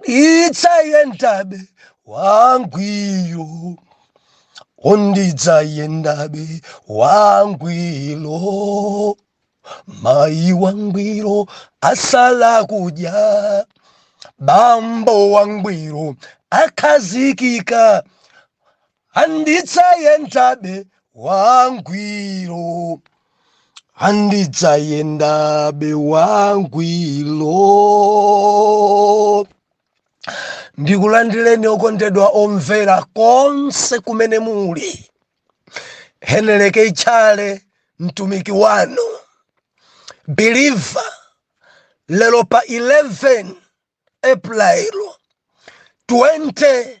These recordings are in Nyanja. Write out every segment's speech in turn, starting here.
ndidzayendabe wangwiro o ndidzayendabe wangwiro mayi wangwiro asala kudya bambo wangwiro akhazikika Andidzayendabe wangwiro, andidzayendabe wangwiro. Ndikulandireni okondedwa omvera konse kumene muli. Heneleke Tchale mtumiki wanu believer lero pa 11 April 20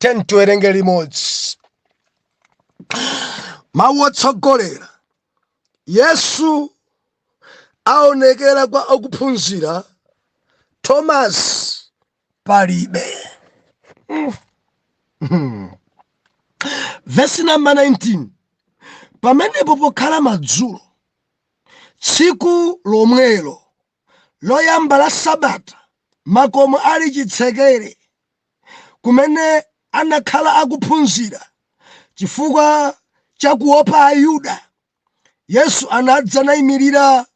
10 tiwerenge limodzi mawu otsogolera yesu aonekera kwa akuphunzira tomasi palibe vesi namba 19 pamenepo pokhala madzulo tsiku lomwelo loyamba la sabata, makomo ali chitsekere, kumene anakhala akuphunzira, chifukwa cha kuopa Ayuda, Yesu anadza naimirira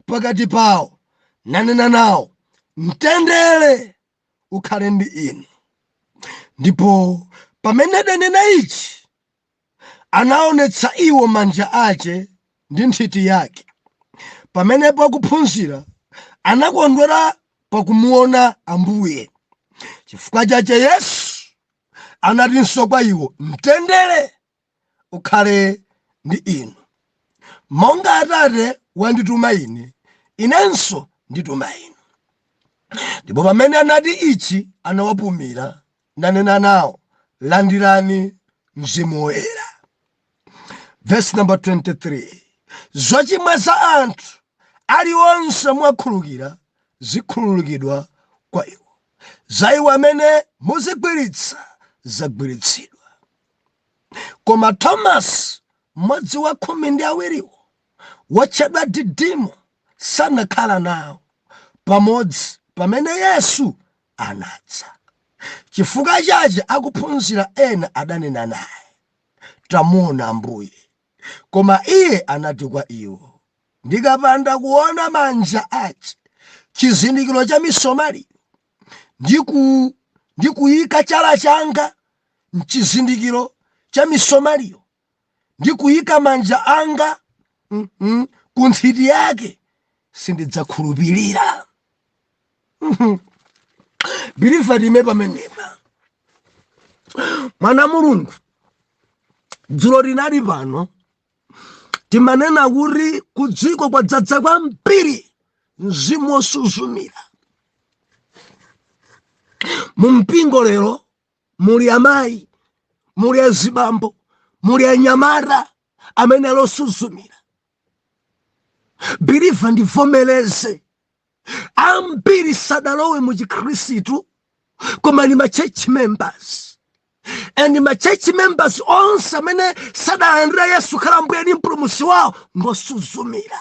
pakati pawo, nanena nawo, Mtendere ukhale ndi inu. Ndipo pamene adanena ichi, anaonetsa iwo manja ache ndi nthiti yake. Pamenepo akuphunzira anakondwera pakumuona Ambuye. Chifukwa chache Yesu anatinso kwa iwo, Mtendere ukhale ndi inu. Monga Atate wandituma Ine, Inenso ndituma inu. Ndipo pamene anati ichi, anawapumira, nanena nawo, Landirani Mzimu Woyera. Vesi namba 23, zochimwa za anthu aliwonse muwakhululukira zikhululukidwa kwa iwo, za iwo amene muzigwiritsa zagwiritsidwa. Koma Tomasi, mmodzi wa khumi ndi awiriwo, wotchedwa Didimo, sanakhala nawo pamodzi pamene Yesu anadza. Chifukwa chache akuphunzira ena adanena naye, Tamuona Ambuye. Koma iye anati kwa iwo, Ndikapanda kuona manja ache chizindikiro cha misomali, ndi ku ndi kuika chala changa m'chizindikiro cha misomaliyo, ndi kuyika manja anga ku nthiti yake sindidzakhulupirira believer tiime pamenepa mwana mulungu dzulo tinali pano timanena kuti kudziko kwadzadza kwambiri mzimu wosuzumira mu mpingo lero muli amayi muli azibambo muli anyamata amene ali osuzumira believer ndivomereze ambiri sadalowe mu chikhristu koma ni ma church members and ma church members onse amene sadalandira yesu khala mbuye ni mpulumusi wawo ngosuzumira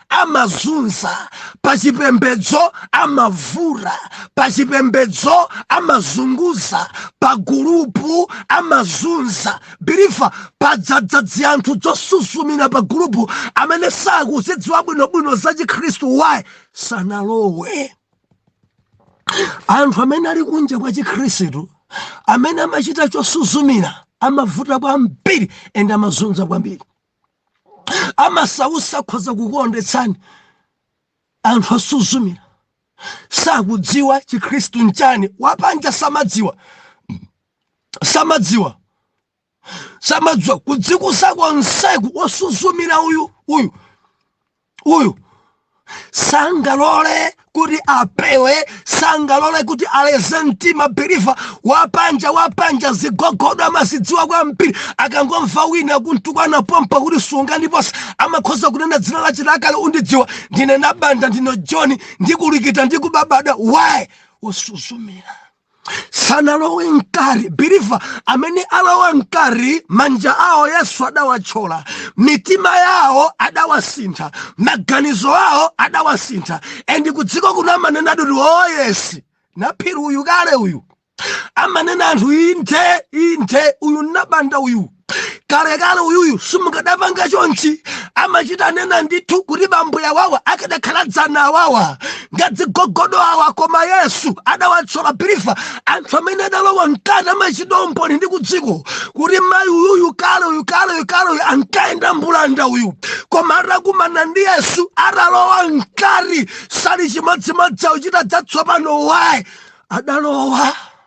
amazunza pachipembedzo amavuta pachipembedzo amazunguza pagulupu amazunza believer padzadza dzianthu dzosuzumira pagulupu amene sakuzidziwa bwinobwino za chikhristu why sanalowe anthu amene ali kunja kwa chikhristu amene amachita chosuzumira amavuta kwambiri and amazunza kwambiri amasausa akhoza kukuondetsani anthu osuzumira sakudziwa chikhristu nchani wapanja samadziwa samadziwa samadziwa kudzikusa konseku osuzumira uyu uyu uyu sangalole kuti apewe sangalole kuti aleze mtima believer wapanja wapanja zigogodo amazidziwa kwambiri akangomva wina kumtukwana pompa kuti sunga ndiponso amakhoza kunena dzina lache lakale undidziwa ndine nabanda ndine john ndikulikita ndikubabada why osuzumira sanalowe mkati believer amene alowa mkati manja awo yesu adawatchola mitima yawo adawasintha maganizo awo adawasintha and kudziko kuno amanena ati kuti oh yes naphiri uyu kale uyu amanena anthu inthe inthe uyu nabanda uyu kalekale uyuyu simukadapanga chonchi amachita nena ndithu kuti bambo awawa akadakhala dzana awawa ngadzigogodo awa koma yesu adawatchola believer anthu amene adalowa mkati amachita umboni ndi kudziko kuti mayi uyuyu kale uyu kale uyu kale uyu ankayenda mbulanda uyu koma atakumana ndi yesu adalowa mkati sali chimodzimodzi akuchita dzatsopano why adalowa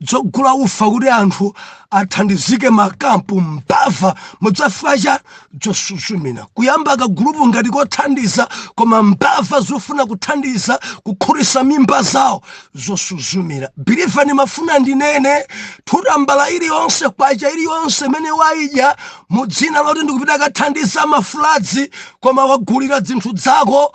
dzogula ufa kuti anthu athandizike m'makampu mbava mudzafika cha dzosuzumira kuyamba kagulupu ngati kothandiza koma mbava zofuna kuthandiza kukhutisa mimba zawo zosuzumira believer ndimafuna ndinene tambala iliyonse kwacha iliyonse imene waidya mudzina loti ndikupita kathandiza mafuladzi koma wagulira dzinthu dzako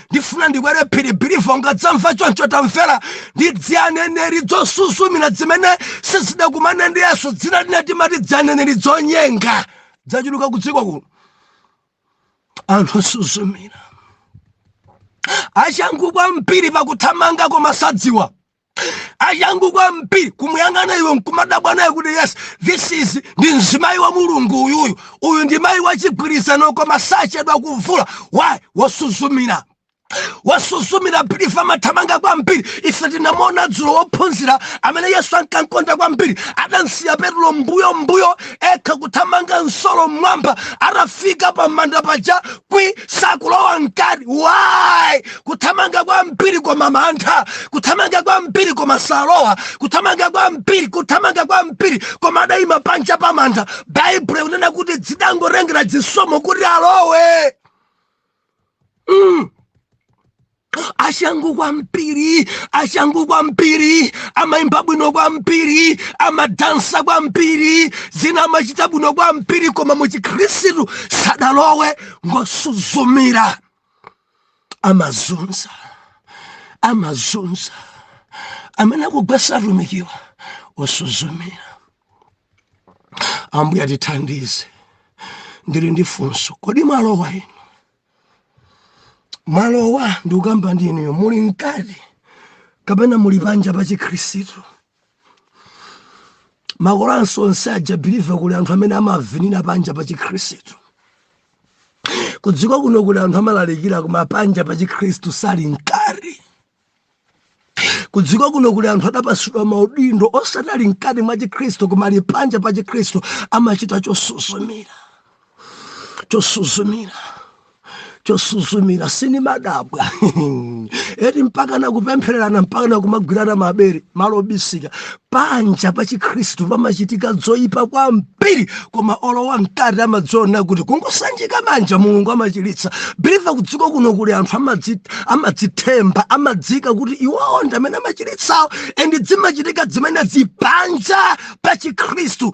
ndifuna ndikwere phiri believer ungadzamva choncho tamvera ndi dzianeneri dzosusumira dzimene sizidakumane ndi yesu dzina lina timati dzianeneri dzonyenga dzachuluka ku dziko kuno anthu osuzumira achangu kwambiri pakuthamanga koma sadziwa achangu kwambiri kumuyang'ana iwe nkumadabwa naye kuti yes this is ndi mzimayi wa mulungu uyuyu uyu ndi mayi wachigwirizano koma sachedwa kuvula why wosuzumira wosuzumira believer amathamanga kwambiri ife tinamuona dzulo wophunzira amene yesu ankamkonda kwambiri adamsiya petulo mbuyo mbuyo ekha kuthamanga msolo mmwamba atafika pa manda paja sakulowa mkati why kuthamanga kwambiri koma mantha kuthamanga kwambiri koma salowa kuthamanga kwambiri kuthamanga kwambiri koma adayima panja pa manda baibulo ikunena kuti dzidangotengera dzisomo kuti alowe mm. achangu kwambiri achangu kwambiri amaimba bwino kwambiri amadansa kwambiri zina amachita bwino kwambiri koma muchikhristu sadalowe ngosuzumira amazunza amazunza amene akugwesa atumiki wa osuzumira ambuye atithandize ndili ndi funso kodi mwalowa inu mwalowa ndikukamba ndi inuyo muli mkati kapena muli panja pa chikhristu makolanso onse aja believer kuli anthu amene amavinira panja pa chikhristu kudziko kuno kuli anthu amalalikira koma panja pa chikhristu sali mkati kudziko kuno kuli anthu adapasidwa maudindo osadali mkati mwa chikhristu koma ali panja pa chikhristu amachita chosuzumira chosuzumira chosuzumira simumadabwa eti mpaka nakupemphererana mpaka nakumagwirana mabere malo obisika panja pa chikhristu pamachitika dzoyipa kwambiri koma olowa mkati amadziona kuti kungosanjika manja mulungu amachilitsa believer kudziko kuno kuli anthu amadzithemba amadziika kuti iwowo ndi amene amachilitsawo and dzimachitika dzimenedzi panja pa chikhristu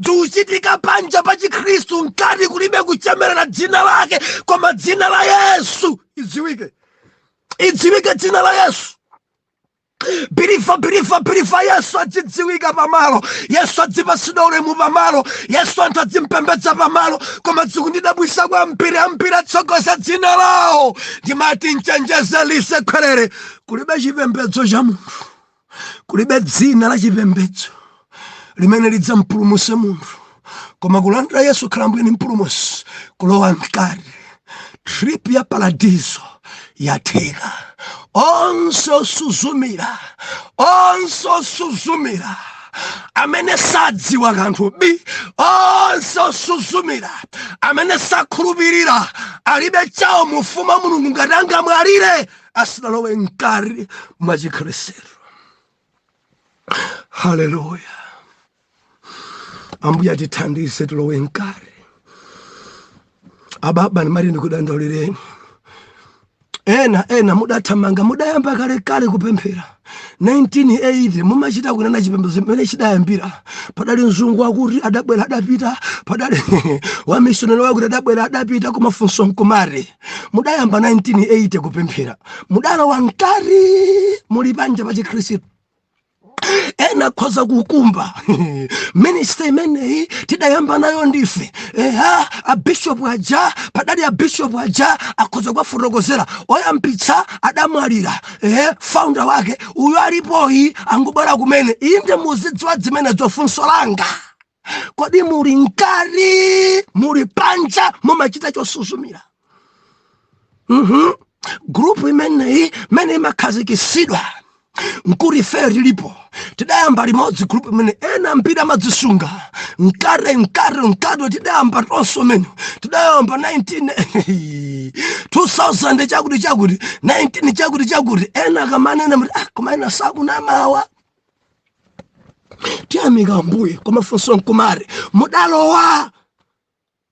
zikuchitika panja pa chikhristu mkati kulibe kuchemerera dzina lake koma dzina la yesu idziwike idziwike dzina la yesu believer believer believer yesu adzidziwika pamalo yesu adzipasidwa ulemu pamalo yesu anthu adzimpembedza pamalo koma dzikundidabwisa kwambiri ambiri atsogoza dzina lawo ndimati nchenjeze lisekwerere kulibe chipembedzo cha munthu kulibe dzina la chipembedzo limene lidzampulumuse munthu koma kulandira yesu khala mbuye ndi mpulumusi kulowa mkati trip ya paradiso yatheka onse osuzumira onse osuzumira amene sadziwa kanthu bi onse osuzumira amene sakhulupirira alibe chawo mu ufumu wa mulungu ngati angamwalire asanalowe mkati mwa chikhristu haleluya ambuye atithandize tilowe mkati ababa ndimati ndikudandaulireni ena ena mudathamanga mudayamba kalekale kupemphera 1980 mumachita kunena chipembedzo chimene chidayambira padali mzungu wakuti adabwera adapita padali wamishonari wakuti adabwera adapita koma funso nkumati mudayamba 1980 kupemphera mudalowa mkati muli panja pa chikhristu ena akhoza kukumba ministry imeneyi tidayamba nayo ndife eha abishopu aja padali abishopu aja akhoza kuwafotokozera oyambitsa adamwalira ehe founder wake uyo alipoyi angobwera kumene inde muzidziwa zimenezo funso langa kodi muli mkati muli panja mumachita chosuzumira mhm group imeneyi mene imakhazikisidwa nkuti ife tilipo tidayamba limodzi group imene ena ambiri amadzisunga mkate mkate mkate tidayamba tonse mmene tidayamba 19 2000 chakuti chakuti 19 chakuti chakuti ena akamanena muti ah, koma ena sakunamawa tiyamika ambuye koma funso nkumati mudalowa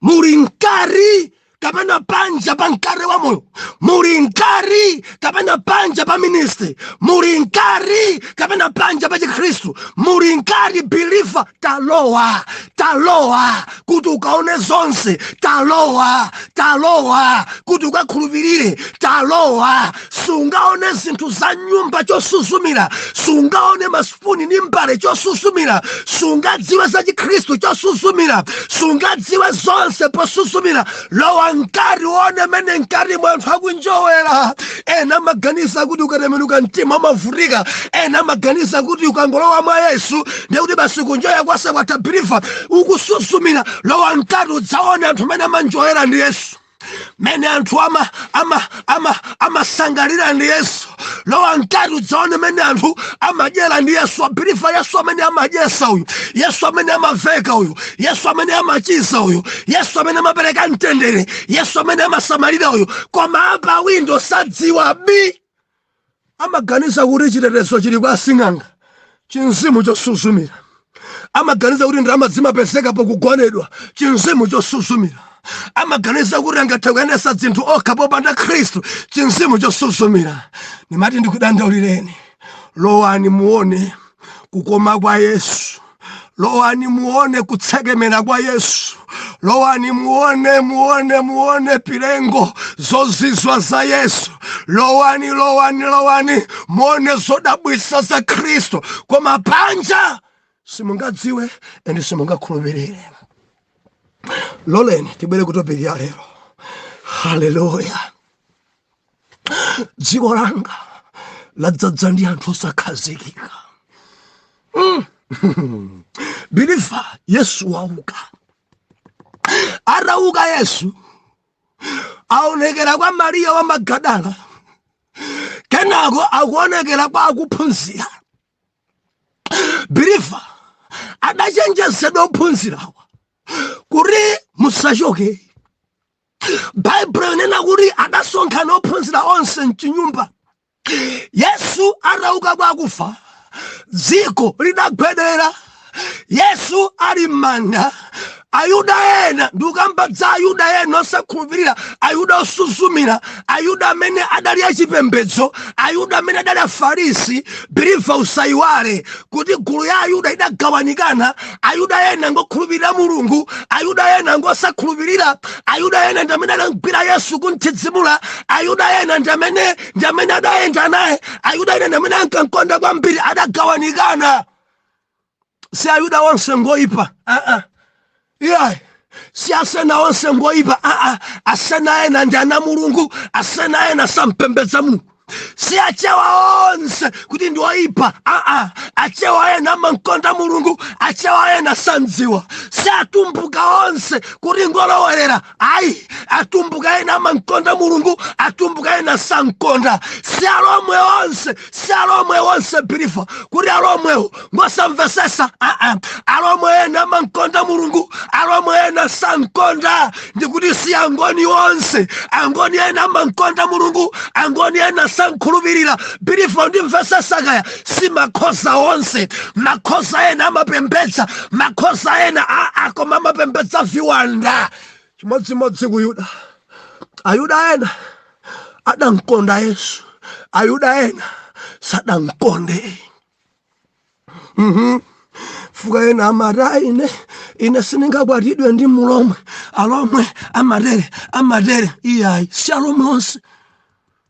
muli mkati kapena panja pa mkate wa moyo muli mkati kapena panja pa ministry muli mkati kapena panja pa chikhristu muli mkati believer talowa talowa kuti ukaone zonse talowa talowa kuti ukakhulupirire talowa sungaone zinthu za nyumba chosuzumira sungaone maso sipuni ndi mbale chosuzumira sungadziwe za chikhristu chosuzumira sungadziwe zonse posuzumira lowa mkati uone mene mkati mwa anthu akunjowera ena amaganiza kuti ukatembenuka mtima umavutika ena amaganiza kuti ukangolowa mwa yesu ndiye kuti basi kunjoya konse kwatha biliva ukusuzumira lowa mkati udzaone anthu amene amanjoyera ndi yesu mene anthu ama ama ama amasangalira ndi yesu lowa mkati udzaone mene anthu amadyera ndi yesu a biliva yesu amene amadyesa uyu yesu amene amaveka uyu yesu amene amachiza uyu yesu amene amapereka mtendere yesu amene amasamalira uyu koma apa windo sadziwa bi amaganiza kuti chitetezo chili kwa asing'anga chinzimu chosuzumira amaganiza kuti ndalama zimapezeka pokugonedwa chinzimu chosuzumira amaganiza kuti angathe kuyendesa dzinthu okha popanda khristu chinzimu chosuzumira ndimati ndikudandaulireni lowani muone kukoma kwa yesu lowani muone kutsekemera kwa yesu lowani muone muone muone pilengo zozizwa za yesu lowani lowani lowani muone zodabwisa za khristu koma panja simungadziwe ende simungakhulupirire loleni tibwere kutopiki ya lero haleluya dziko langa ladzaza ndi anthu osakhazikika mm. biliva yesu wauka atauka yesu waonekera kwa mariya wa magadala kenako akuonekera kwa akuphunzira biliva adachenjezedwa ophunzirawa kuti musachoke baibulo inena kuti adasonkhana ophunzira onse mchinyumba yesu atauka kwa akufa dziko lidagwedera yesu ali m'manda ayuda ena ndikukamba za ayuda ena osakhulupirira ayuda osuzumira ayuda amene adali achipembedzo ayuda amene adali afarisi biliva usayiwale kuti gulu ya ayuda idagawanikana ayuda ena ngokhulupirira mulungu ayuda ena ngosakhulupirira ayuda ena ndamene adamgwira yesu kumthidzimula ayuda ena ndamene ndamene adayenda naye ayuda ena ndamene ankamkonda kwambiri adagawanikana si ayuda onse ngoipa aa uh -uh. yeah si asena onse ngoipa aa asena ena ndi ana a mulungu asena ena sampembedza mulungu si achewa onse kuti ndi oyipa aa achewa ena amankonda mulungu achewa ena sandziwa si atumbuka onse kuti ngolowerera ayi atumbuka ena amankonda mulungu atumbuka ena sankonda si alomwe onse si alomwe onse believer kuti alomwewo ngosamvesesa aa ah, ah. alomwe ena amankonda mulungu alomwe ena sankonda ndikuti si angoni onse angoni ena amankonda mulungu angoni ena sankhulupirira believer ndimvesesa kaya si makhoza onse makhoza ena amapembedza makhoza ena aa ah, koma amapembedza viwanda chimodzimodzi ku yuda ayuda ena adankonda yesu ayuda ena sadankonde mm -hmm. fuka ena amati ine ine sindingakwatidwe ndi mulomwe alomwe amatere amatere iyayi si alomwe onse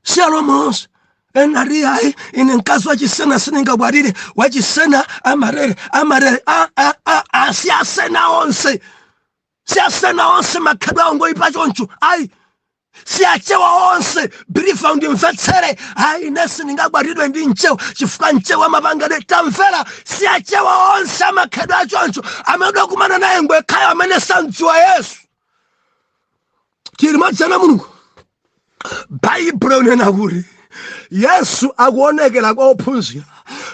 si alomwe onse ena ati iyayi ine mkazi wachisena sindingakwatire wachisena amatere amatere a- a- a- a- si asena onse si asena onse makhalidwe awo ngoyipa choncho ayi si achewa onse believer undimvetsere ayi ine sindingakwatidwe ndi mchewa chifukwa mchewa amapangidwe tamvera si achewa onse amakhalidwe achoncho amene udakumana naye ngwekhayo amene samdziwa yesu chilimodzi ana mulungu baibulo unena kuti yesu akuonekera kwa ophunzira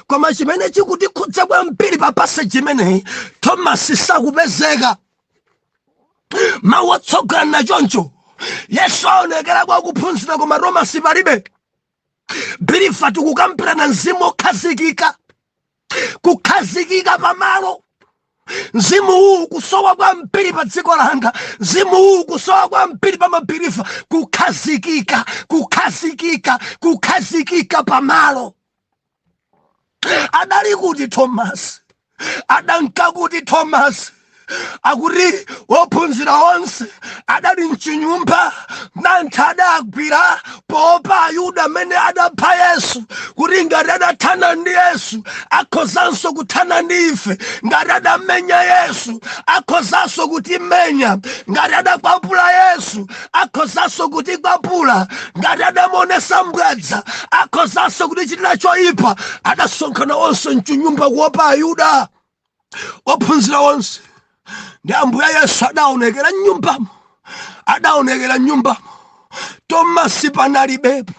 koma chimene chikutikhudza kwambiri pa passage imeneyi tomasi sakupezeka mawu otsogolera na choncho yesu aonekera kwa akuphunzira koma tomasi palibe believer tikukambirana mzimu okhazikika kukhazikika pamalo mzimu uwu ukusowa kwambiri pa dziko langa mzimu uwu ukusowa kwambiri pa mabeliever kukhazikika kukhazikika kukhazikika pamalo adali kuti tomasi adanka kuti tomasi akuti ophunzira onse adali mchinyumba mantha adawagwira poopa ayuda amene adapha yesu kuti ngati adathana ndi yesu akhozanso kuthana ndi ife ngati adamenya yesu akhozanso kutimenya ngati adakwapula yesu akhozanso kutikwapula ngati adamuonesa mbwadza akhozanso kutichitira choyipa adasonkhana onse mchinyumba kuopa ayuda ophunzira onse ndi ambuye yesu adaonekera mnyumbamo adaonekera mnyumbamo tomasi panalibepo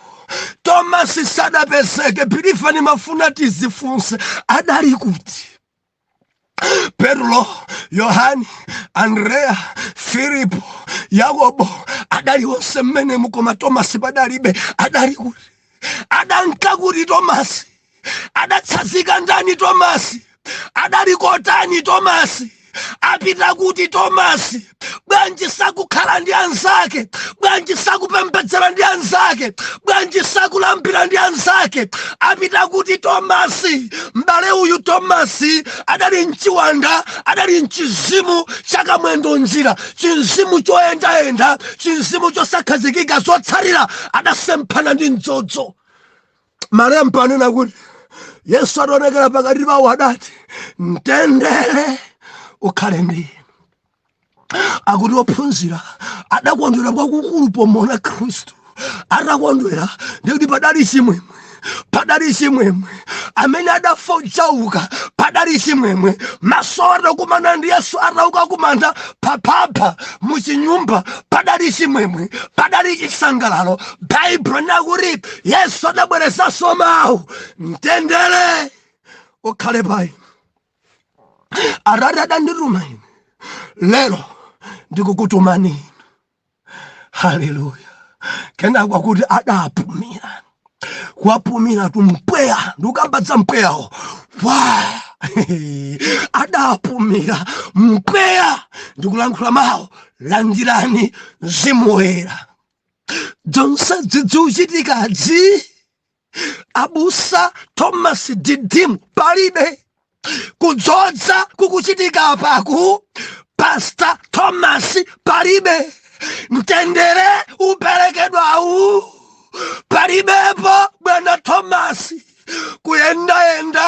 tomasi sadapezeke believer nimafuna tizifunse adali kuti Petro, Yohani, Andrea, Filipo, Yakobo adali onse mmene mukoma Tomasi padalibe adali kuti adanka kuti Tomasi adatsazika ndani Tomasi adali kotani Tomasi apita kuti Tomasi bwanji sakukhala ndi anzake bwanji sakupembedzera ndi anzake bwanji sakulambira ndi anzake apita kuti tomasi m'bale uyu tomasi adali mchiwanda adali mchizimu chakamwendo njira chinzimu choyendayenda chinzimu chosakhazikika zotsatira adasemphana ndi mdzodzo malemba anena kuti yesu ataonekera pakati pawo adati mtendere ukhale ndi akuti ophunzira adakondwera kwakukulu pomuona khristu atakondwera ndikuti padali chimwemwe padali chimwemwe amene adafa uja wauka padali chimwemwe maso atakumana ndi yesu atauka kumanda paphapha muchinyumba padali chimwemwe padali chisangalalo baibulo likuti yesu adabwerezanso mawu mtendere ukhale payi atate adandituma ine lero ndikukutumani inu haleluya kenako akuti adapumira kuwapumiratu mpweya ndikukambadza mpweyawo wa adapumira mpweya ndikulankhula mawu landirani mzimu woyera zonse dzidziuchitikadzi abusa thomas didimu palibe kudzodza kukuchitika apaku pasta thomas palibe mtendere uperekedwawu palibepo bwana thomas kuyendayenda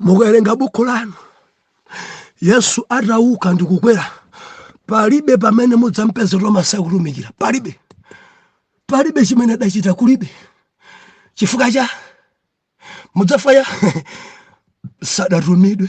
mukawerenga bukhu lanu yesu atauka ndi kukwera palibe pamene mudzampeze tomasi akutumikira palibe palibe chimene adachita kulibe chifukwa cha mudzafukwa cha sadatumidwe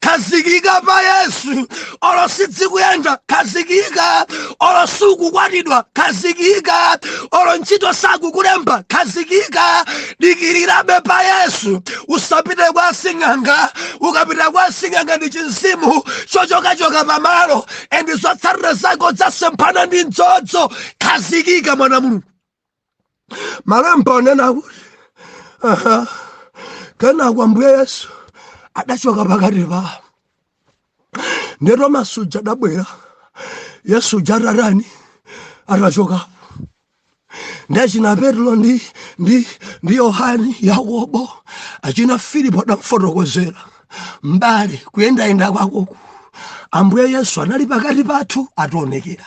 khazikika pa yesu olo sidzikuyenda khazikika olo siukukwatiwa khazikika olo ntchito sakukulemba khazikika dikirirabe pa yesu usapite kwa sing'anga ukapita kwa sing'anga ndi chinzimu chochokachoka pamalo endi zotsatira zako dzasemphana ndi mdzodzo khazikika mwana mulungu malemba akunena kuti aha, kenako ambuye yesu adachoka pakati pawo ndiye tomasi uja adabwera yesu uja atatani atachokapo ndi achina petro ndi ndi ndi yohani yakobo achina filipo adamfotokozera m'bale kuyendayenda kwakoku ambuye yesu anali pakati pathu ationekera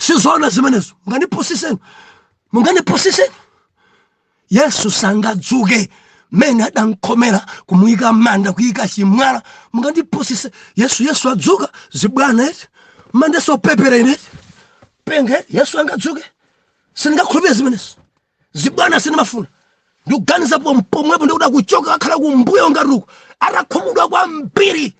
sizoona zimenezo munganipusiseni munganipusiseni yesu sangadzuke mmene adankhomera kumuyika mmanda kuyika chimwala mungandipusise yesu yesu adzuka zibwana eti mundiyese wopepera ine eti penge yesu angadzuke sindingakhulupire zimenezo zibwana sinimafuna ndikuganiza pomwepo ndi kuda kuchoka akhala kumbuyo ngati uku atakhumudwa kwambiri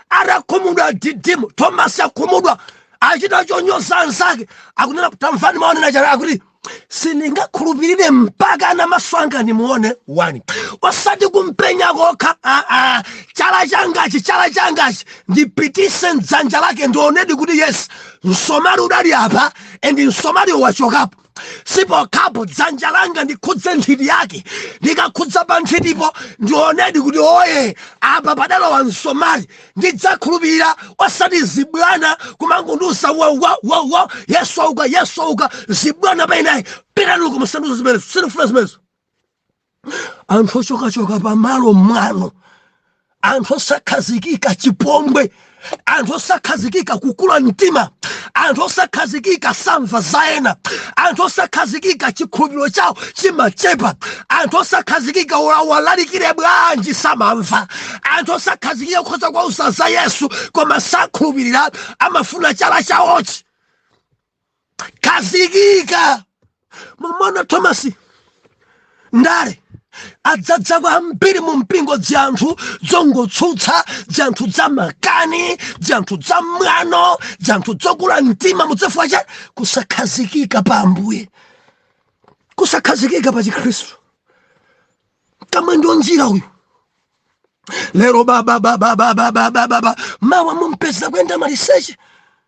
atakhumudwa didimu tomasi akhumudwa achita chonyoza anzake akunena tamvani mau onena chara akuti sindingakhulupirire mpaka na maso anga nimuone wani osati kumpenya kokha ah, ah, chala changachi chala changachi ndipitise mdzanja lake ndionedi kuti yes msomali udali apa and msomaliwo wachokapo sipokhapo dzanja langa ndikhudze nthiti yake ndikakhudza pa nthitipo ndionedi kuti oye apa padalowa msomali ndidzakhulupirira osati zibwana kumangondiuza wawa wawa yesu auka yesu auka zibwana pa ine ayi pitani uko musandiuze zimenezo sindifuna zimenezo anthu ochokachoka pamalo mwano anthu osakhazikika chipongwe anthu osakhazikika kukula mtima anthu osakhazikika samva za ena anthu osakhazikika chikhulupiriro chawo chimachepa anthu osakhazikika uwalalikire bwanji samamva anthu osakhazikika kukhoza kuwauza za yesu koma sakhulupirira amafuna chala chawochi kazikika mumona thomas ndale adzadza kwambiri mu mpingo dzanthu dzongotsutsa dzanthu dza makani dzanthu dza mwano dzanthu dzokula mtima mudzafika cha kusakhazikika pa ambuye kusakhazikika pa chikhristu kamwe ndio njira uyu lero babababababababa mawa mumpeza kwenda maliseche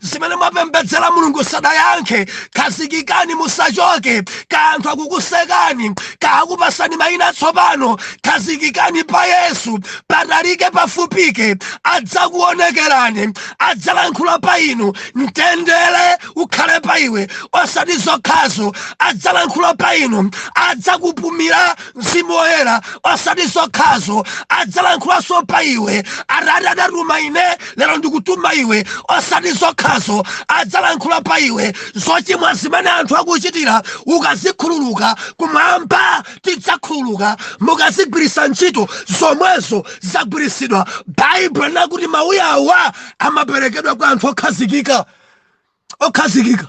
zimene mwapembedzera mulungu sadayankhe khazikikani musachoke kaya anthu akukusekani kaya akupatsani mayina atsopano khazikikani pa yesu patalike pafupike adzakuonekerani adzalankhula pa inu mtendere ukhale pa iwe osati zokhazo adzalankhula pa inu adzakupumira mzimu woyera osati zokhazo adzalankhulanso pa iwe atate adatuma ine lero ndikutuma iwe osati zokhazo adzalankhula pa iwe zochimwa zimene anthu akuchitira ukazikhululuka kumwamba tidzakhululuka mukazigwiritsa ntchito zomwezo zagwiritsidwa baibulo likuti mawuyawa amaperekedwa kwa anthu okhazikika okhazikika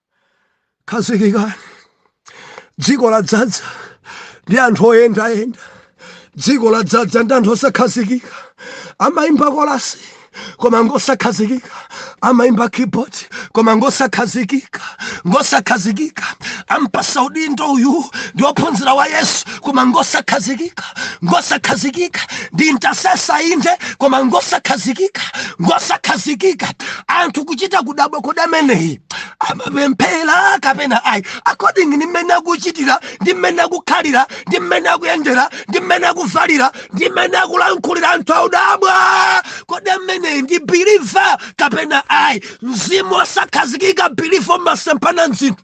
khazikikani dziko ladzadza ndi anthu oyendayenda dziko ladzadza ndi anthu osakhazikika amayimba kolasi koma ngosakhazikika amayimba keyboard koma ngosakhazikika ngosakhazikika ampasa udindo uyu ndi ophunzira wa yesu koma ngosakhazikika ngosakhazikika ndi intercessor inde koma ngosakhazikika ngosakhazikika anthu kuchita kudabwa kodameneyi amapemphera kapena ayi according ndi mmene akuchitira ndi mmene akukhalira ndi mmene akuyendera ndi mmene akuvalira ndi mmene akulankhulira anthu audabwa kodi ameneyi ndi biliva kapena ayi mzimu osakhazikika biliva umasempha mzinthu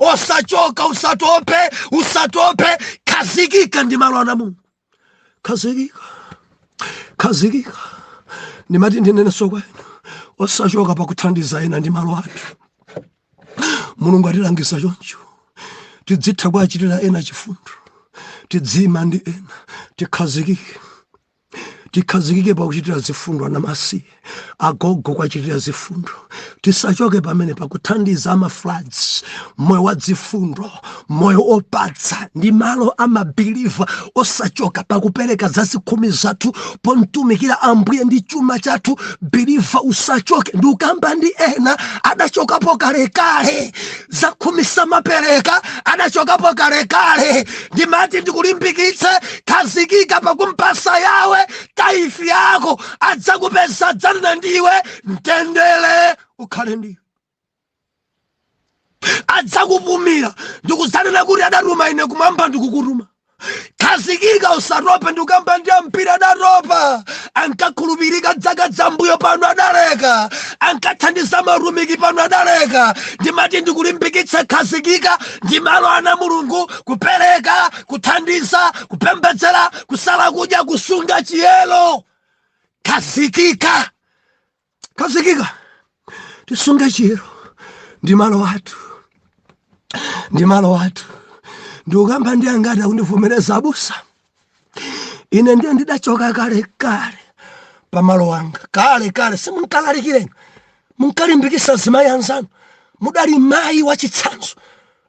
osachoka usatope usatope khazikika ndi malo ana mulungu khazikika khazikika ndimati ndinenenso kwa inu osachoka pakuthandiza ena ndi malo athu mulungu atilangiza choncho tidzitha kuachitira ena chifundo tidziima ndi ena tikhazikike tikhazikike pakuchitira zifundo anamasiye agogo kuwachitira zifundo tisachoke pamene pakuthandiza amafloods moyo wa dzifundo moyo opatsa ndi malo amabiliva osachoka pakupereka zazikhumi zathu pomtumikira ambuye ndi chuma chathu biliva usachoke ndiukamba ndi ena adachokapo kalekale zakhumi samapereka adachokapo kalekale ndimati ndikulimbikitse khazikika pakumpasa yawe tithe yako adzakupeza adzanena ndiwe mtendere ukhale ndiwe adzakupumira ndikudzanena ati adatuma ine kumwamba ndikukutuma khazikika usatope ndikukamba ndi amphira adatopa ankakhulupirika dzaka dzambuyo pano adaleka ankathandiza matumiki pano adaleka ndimati ndikulimbikitse khazikika ndi malo ana mulungu kupereka kuthandiza kupembedzera kusala kudya kusunga chiyero khazikika khazikika tisunge chiyero ndi malo athu ndi malo athu ndiukamba ndi angati akundivomereza abusa ine ndiye ndidachoka kale kale pamalo anga kale kale simunkalalikira inu munkalimbikisa zimayi anzanu mudali mayi wachitsanzo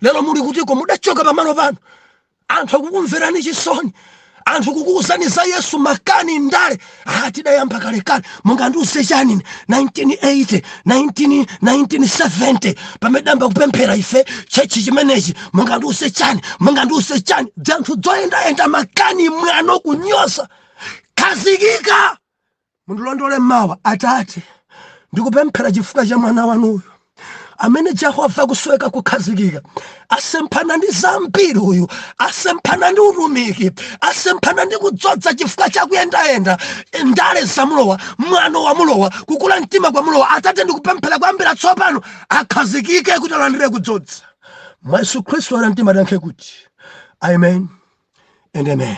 lero muli kutiko mudachoka pamalo panu anthu akukumverani chisoni anthu kukuuzani za yesu makani ndale ah, tidayamba kalekale mungandiuze chani 1980 19 1970 pamene tidayamba kupemphera ife tchetchi chimenechi mungandiuze chani mungandiuze chani dzanthu dzoyendayenda makani mwano kunyoza khazikika Mundilondole mmawa, Atate. Ndikupemphera chifukwa cha mwana wanuyu amene jehova akusoweka kukhazikika asemphana ndi zambiri uyu asemphana ndi utumiki asemphana ndi kudzodza chifukwa chakuyendayenda ndale zamulowa mwano wamulowa kukula mtima kwamulowa atate ndikupemphera kuyambira tsopano akhazikike kuti alandire kudzodza mwa yesu khristu anamtima tiyankhe kuti amen and amen